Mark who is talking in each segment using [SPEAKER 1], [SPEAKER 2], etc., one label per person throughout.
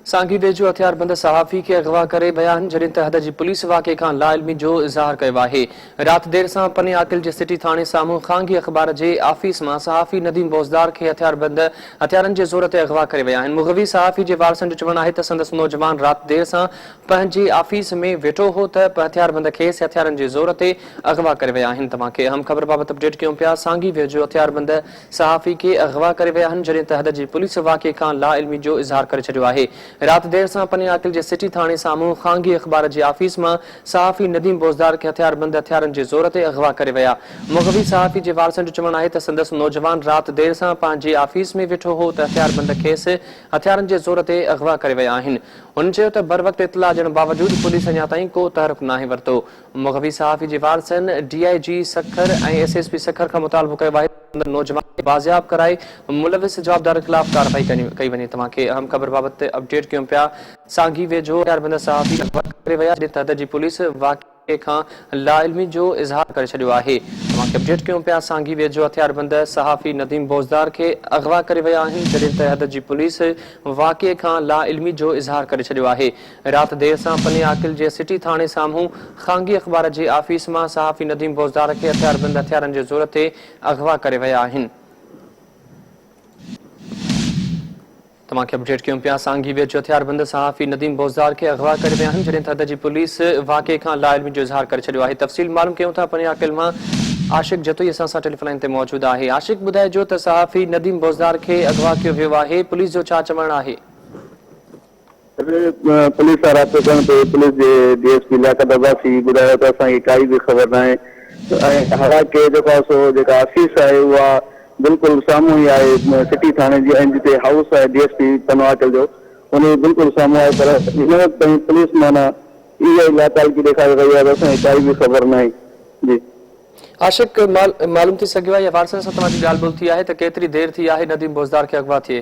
[SPEAKER 1] سانگيديجو هٿياربند صحافي کي اغوا ڪري ويا آهن، جڏهن ته حد جي پوليس واقعي کان لاعلمي جو اظهار ڪيو آهي. رات دير سان پني عاقل جي سٽي ٿاڻي سامهون خانگي اخبار جي آفيس مان صحافي نديم بوزدار کي هٿياربند هٿيارن جي زور تي اغوا ڪري ويا آهن. مغوي صحافي جي وارثن جو چوڻ آهي ته سندس نوجوان رات دير سان پنهنجي آفيس ۾ ويٺو هو ته پهٿياربند کيس هٿيارن جي زور تي اغوا ڪري ويا آهن. توهان کي اهم خبر بابت اپڊيٽ ڪيون پيا سانگي ويجهو هٿياربند صحافي کي اغوا ڪري ويا آهن جڏهن ته حد جي پوليس واقعي کان لاعلمي جو اظهار ڪري ڇڏيو آهي. رات دير سان پني عاقل جي سٽي ٿاڻي سامهون خانگي اخبار جي آفيس مان صحافي نديم بوزدار کي هٿياربند هٿيارن جي زور تي اغوا ڪري ويا. مغوي صحافي جي وارثن جو چوڻ آهي ته سندس نوجوان رات دير سان پنهنجي آفيس ۾ ويٺو هو ته هٿياربند کيس هٿيارن جي زور تي اغوا ڪري ويا آهن. هن چيو ته بروقت اطلاع ڏيڻ باوجود پوليس اڃا تائين ڪو تحرڪ ناهي ورتو. مغوي صحافي جي وارثن D I G Sukkur ۽ S S P Sukkur کان مطالبو ڪيو آهي ته سندن نوجوانن کي بازياب ڪرائي ملوث جوابدارن خلاف ڪارروائي ڪئي وڃي توهان کي اهم خبر بابت اپڊيٽ ڪيون پيا سانگي ويجهو هٿياربند صحافي اغوا ڪري ويا جڏهن ته حد جي پوليس واقعي کان لاعلمي جو اظهار ڪري ڇڏيو آهي توهان کي اپڊيٽ ڪيون پيا سانگي ويجهو هٿياربند صحافي نديم بوزدار کي اغوا ڪري ويا آهن جڏهن ته حد جي پوليس واقعي کان لاعلمي جو اظهار ڪري ڇڏيو آهي رات دير سان پني عاقل جي سٽي ٿاڻي سامهون خانگي اخبار جي آفيس مان صحافي نديم بوزدار کي هٿياربند هٿيارن جي زور تي اغوا ڪري ويا آهن. توهان کي اپڊيٽ ڪيون پيا سانگي ويجهو هٿياربند صحافي نديم بوزدار کي اغوا ڪري ويا آهن جڏهن ته ادا جي پوليس واقعي کان لاعلمي جو اظهار ڪري ڇڏيو آهي تفصيل معلوم ڪيون ٿا پني عاقل مان عاشق جتوئي اسان سان ٽيليفون لائين تي موجود آهي عاشق ٻڌائجو ته صحافي نديم بوزدار کي اغوا ڪيو ويو آهي پوليس جو ڇا چوڻ آهي.
[SPEAKER 2] پوليس سان رابطو ڪرڻ تي پوليس جي D S P Liaquat Abbasi ٻڌايو ته اسان کي ڪائي به خبر ناهي ۽ هاڻا ڪي دفعا سو جيڪا آفيس آهي اها بلڪل سامهون ئي آهي سٽي ٿاڻي جي ۽ جتي هائوس آهي ڊي ايس پي پنواڪل جو ان جي بلڪل سامهون آهي پر هن وقت تائين پوليس معنيٰ اها ئي لاتعلقي ڏيکاري رهي آهي ته اسان کي ڪائي به خبر ناهي جي. عاشق
[SPEAKER 1] معلوم ٿي سگهيو آهي يا وارثن سان توهان جي ڳالهه ٻولهه ٿي آهي ته ڪيتري دير ٿي آهي نديم بوزدار کي اغوا ٿئي؟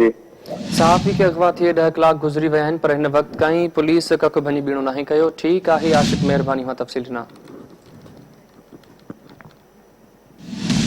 [SPEAKER 2] جي. صحافي
[SPEAKER 1] کي اغوا ٿئي ڏهه ڪلاڪ گذري ويا آهن پر هن وقت تائين پوليس ڪک ڀڃي ٻيڻو ناهي ڪيو ٺيڪ آهي عاشق مهرباني اوهان تفصيل ڏنا.